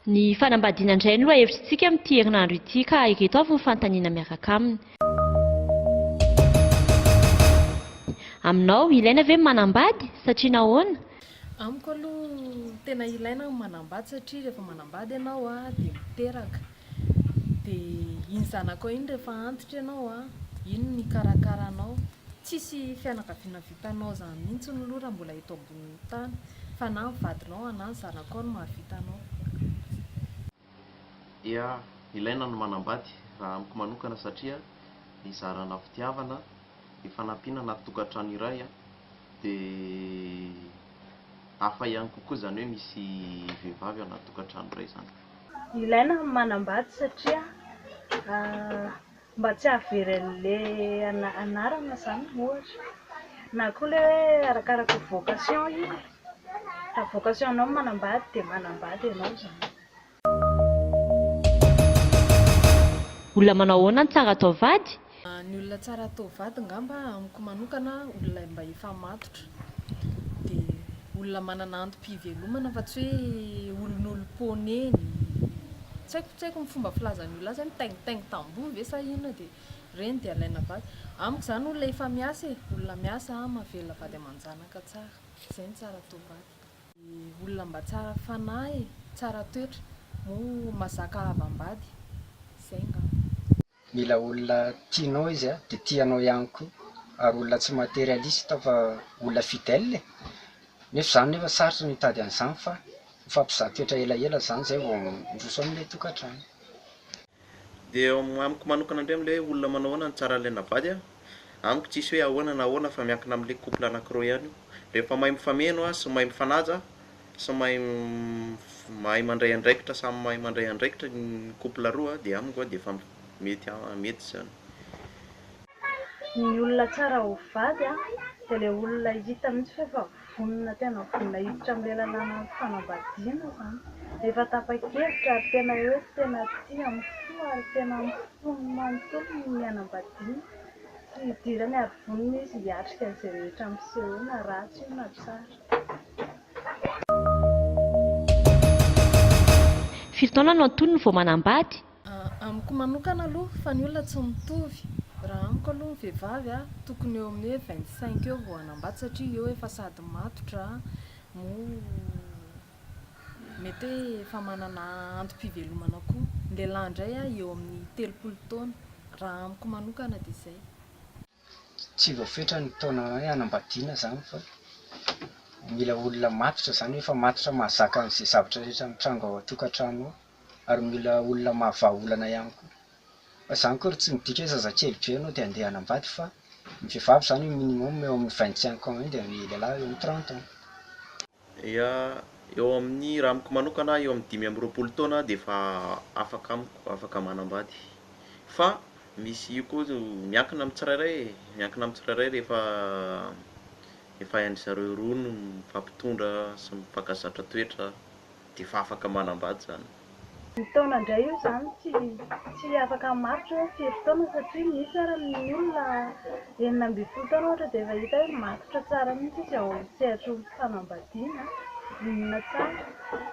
Ny fanambadiana indray no lohahevitrintsika amin'ity herinandro ity ka ireto avy ny fanontaniana miaraka aminy. Aminao, ilaina ve ny manambady? Satria nahoana? Amiko aloha tena ilaina ny manambady satria rehefa manambady ianao dia miteraka, dia iny zanakao iny rehefa antitra ianao an, iny no hikarakara anao, tsisy fianakaviana vitanao izany mihintsy aloha raha mbola eto ambonin'ny tany fa na ny vadinao na ny zanakao no mahavita anao. dia ilaina ny manambady raha amiko manokana satria hizarana fitiavana, hifanampiana anaty tokantrano iray dia hafa ihany kokoa izany hoe misy vehivavy ao anaty tokantrano iray izany. Ilaina ny manambady satria Mba tsy hahavery an'ilay anarana izany ohatra. Na koa ilay hoe arakaraka vocation io e. Raha vocation anao ny manambady dia manambady ianao izany. Olona manao ahoana no tsara atao vady? Ny olona tsara atao vady angamba amiko manokana olona mba efa matotra. Dia olona manana antom-pivelomana fa tsy hoe olon'olom-ponenn. Tsy haiko ny fomba filazan'ny olona azy hoe mitaingitaingy tamboho ve sa inona dia ireny dia alaina vady. Amiko izany olona efa miasa e, olona miasa mahavelona vady aman-janaka tsara. Izay no tsara atao vady. Dia olona mba tsara fanahy e, tsara toetra, moa mazaka havam-bady. Izay angamba. Mila olona tianao izy a, dia tia anao ihany koa, ary olona tsy materialiste fa olona fidèle e! nefa izany nefa sarotra ny hitady an'izany fa mifampizaha toetra elaela izany izay vao miroso amin'ilay tokantrano. Dia amiko manokana indray amin'ilay hoe olona manao ahoana no tsara an'ilay navady a, amiko tsisy hoe ahoana na ahoana fa miankina amin'ilay couple anankiroa ihany io, rehefa mahay mifameno a sy mahay mifanaja Samy mahay mahay mandray andraikitra samy mahay mandray andraikitra ny couple roa dia amiko a dia efa mety mety izany. Ny olona tsara ho vady a, dia ilay olona hita mihitsy fa efa vonona tena vonona hiditra amin'ilay lalàna fanambadiana izany, efa tapa-kevitra ary tena hoe tena tia amin'ny fo ary tena amin'ny fony manontolo ny hanambadiana, tsy hidirany ary vonona izy hiatrika an'izay rehetra miseho eo na ratsy io na tsara. Firy taona no antonony vao manambady? Amiko manokana aloha fa ny olona tsy mitovy, raha amiko aloha ny vehivavy a tokony eo amin'ny hoe vingt cinq eo vao hanambady satria eo efa sady matotra moa mety hoe efa manana antom-pivelomana koa, ny lehilahy indray a eo amin'ny telopolo taona, raha amiko manokana dia izay. Tsy voafetra ny taona hoe hanambadiana izany fa mila olona matotra izany hoe efa matotra mahazaka an'izay zavatra rehetra mitranga ao an-tokantrano ao ary mila olona mahavaha olana ihany koa. Fa izany akory tsy midika hoe zazakely be ianao dia handeha hanambady fa ny vehivavy izany eo minimum eo amin'ny vingt cinq ans eo dia ny lehilahy eo amin'ny trente ans. Ia, eo amin'ny raha amiko manokana aho eo amin'ny dimy amby roapolo taona dia efa afaka amiko, afaka manambady. Fa misy io koa zao miankina amin'ny tsirairay e, miankina amin'ny tsirairay rehefa efa hain-dry zareo roa no mifampitondra sy mifankazatra toetra dia efa afaka manambady zany. Mitaona indray io izany tsy tsy afaka hamaritra hoe firy taona satria misy ary ny olona enina ambin'ny folo taona ohatra dia efa hita hoe matotra tsara mihitsy izy ao sehatry ny fanambadiana, vonona tsara.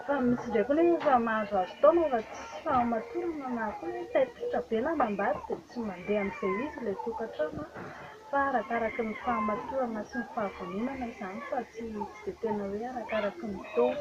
Fa misy indray koa anefa efa mahazoazo taona fa tsy fahamatorana na koa hoe taititra be ny hanambady dia tsy mandeha amin'izay izy ilay tokantrano fa arakaraky ny fahamatorana sy ny fahavononana izany fa tsy tsy dia tena hoe arakaraky ny taona.